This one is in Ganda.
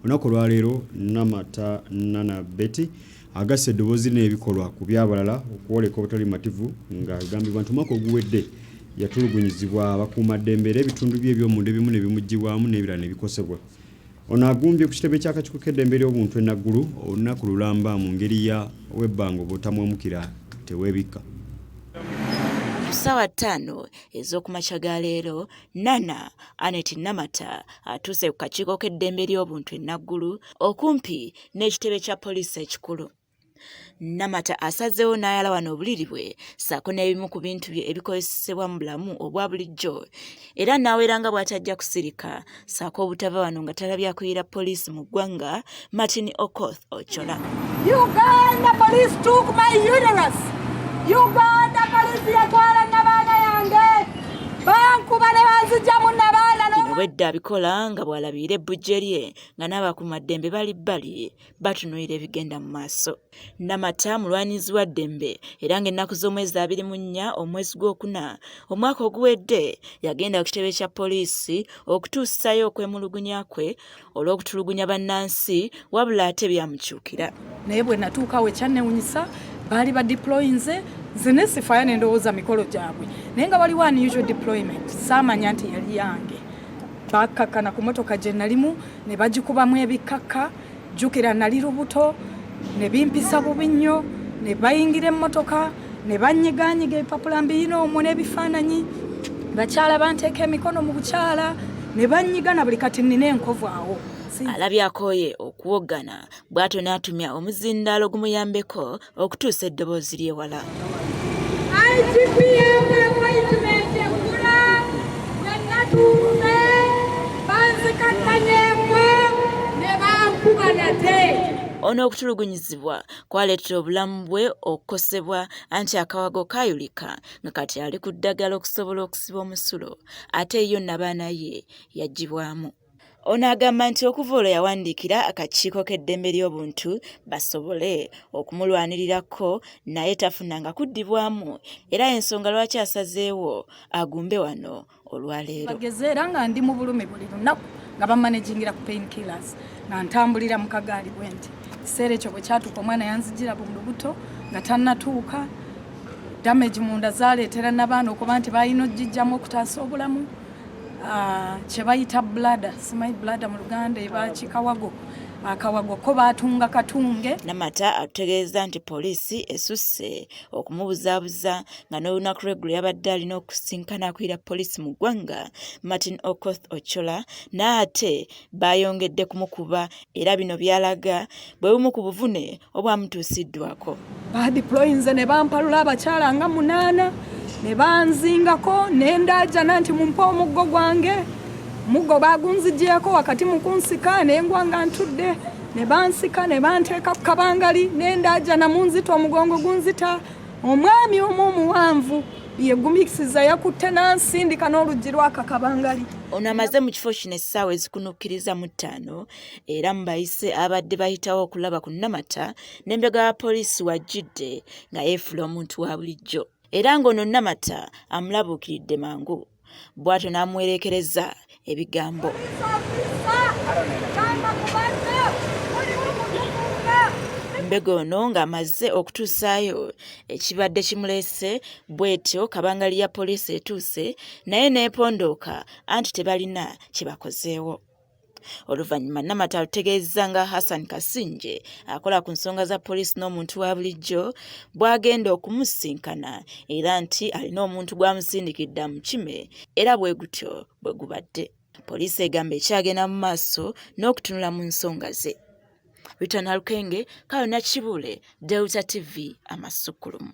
Olunaku olwaleero Namata Nana Betty agasse eddoboozi n'ebikolwa ku by'abalala okwoleka obutali bumativu ng'agambibwa nti omwaka oguwedde yatulugunyizibwa abakuumaddembe era ebitundu bye eby'omunda ebimu ne bimuggyibwamu n'ebirala ne bikosebwa. Ono agumbye ku kitebe ky'akakiiko k'eddembe ly'obuntu e Naggulu olunaku lulamba mu ngeri ya webbanga obutamuwemukira teweebikka. Ku ssaawa ttaano ez'okumakya ga leero, Nana Anet Namata atuuse ku kakiiko k'eddembe ly'obuntu e Naggulu okumpi n'ekitebe kya poliisi ekikulu. Namata asazeewo n'ayalawana obuliri bwe ssaako n'ebimu ku bintu bye ebikozesebwa mu bulamu obwa bulijjo era n'awera nga bw'atajja kusirika ssaako obutava wano nga talabya kuyira poliisi mu ggwanga Martin Okoth Ochola. Uganda police took my uterus. Uganda police yatwala nabaana yange bankuba ne banzijamu nabaana obwedda abikola nga bw'alabiira ebbujje lye nga n'abakumaddembe bali bbali batunuulira ebigenda mu maaso namata mulwanirizi wa ddembe era ng'ennaku z'omwezi abiri mu nnya omwezi gw'okuna omwaka oguwedde yagenda ku kitebe kya poliisi okutuusayo okwemulugunya kwe olw'okutulugunya bannansi wabula ate byamukyukira naye bwe natuukawo ekyannewunyisa baali ba deployinze nze nesifaya nendowooza mikolo gyabwe naye nga waliwo unusual deployment saamanya nti yali yange bakkakkana ku motoka gye nalimu ne bagikubamu ebikkakka jjukira nali lubuto ne bimpisa bubi nnyo ne bayingira emmotoka ne banyiganyiga ebipapula mbiyina omwo n'ebifaananyi bakyala banteeka emikono mu bukyala ne banyigana buli kati nnina enkovu awo alabye akooye okuwoggana bw'atyo n'atumya omuzindaalo gumuyambeko okutuusa eddoboozi ly'ewala ono okutulugunyizibwa kwaleetera obulamu bwe okukosebwa anti akawago kaayulika nga kati ali ku ddagala okusobola okusiba omusulo ate yo nabaana ye yagibwamu ono agamba nti okuva olwo yawandiikira akakiiko k'eddembe ly'obuntu basobole okumulwanirirako naye tafunanga kuddibwamu era ensonga lwaki asazeewo agumbe wano olwaleero bageze era nga ndi mu bulumi buli lunaku nga bamanagingira ku pain killers nga ntambulira mu kagaali bwe nti ekiseera ekyo bwe kyatuuka omwana yanzijira bu lubuto nga tannatuuka damage munda zaleetera nabaana okuba nti balina ojijjamu okutaasa obulamu ah, kyebayita blada simanyi blada mu luganda ebakikawago akawago ko baatunga katunge namata atutegeeza nti poliisi esusse okumubuzaabuza nga n'olunaku lweggulo yabadde alina okusisinkana akulira poliisi mu ggwanga martin okoth ochola n'ate baayongedde kumukuba era bino byalaga bwe bumu ku buvune obwamutuusiddwako badiployinze ne bampalula abakyala nga munaana ne banzingako ne ndaajana nti mumpe omuggo gwange muggo baagunzigyeko wakati mu kunsika ne ngwa nga ntudde ne bansika ne banteeka ku kabangali nendaajana mu nzita omugongo gunzita omwami omu omuwanvu yegumisiza yakutte n'ansindika n'oluggi lwaka kabangali ono amaze mu kifo kino essaawa ezikunukkiriza mu ttaano era mu bayise abadde bayitawo okulaba ku namata n'embega ya poliisi wajjidde nga yeefula omuntu wa bulijjo era ng'ono namata amulabuukiridde mangu bw'atyo n'amuwereekereza ebigambo. Mbega ono ng'amaze okutuusaayo ekibadde kimuleese bw'etyo kabangali ya poliisi etuuse naye n'epondooka anti tebalina kye bakozeewo. Oluvannyuma Namata alutegeezezza nga Hassan Kasingye akola ku nsonga za poliisi n'omuntu wa bulijjo bw'agenda okumusisinkana era nti alina omuntu gw'amusindikidde amukime era bwe gutyo bwe gubadde. Poliisi egamba ekyagenda mu maaso n'okutunula mu nsonga ze. Rita Nalukenge, Kayona Kibuule, Delta TV, Amasukkulumu.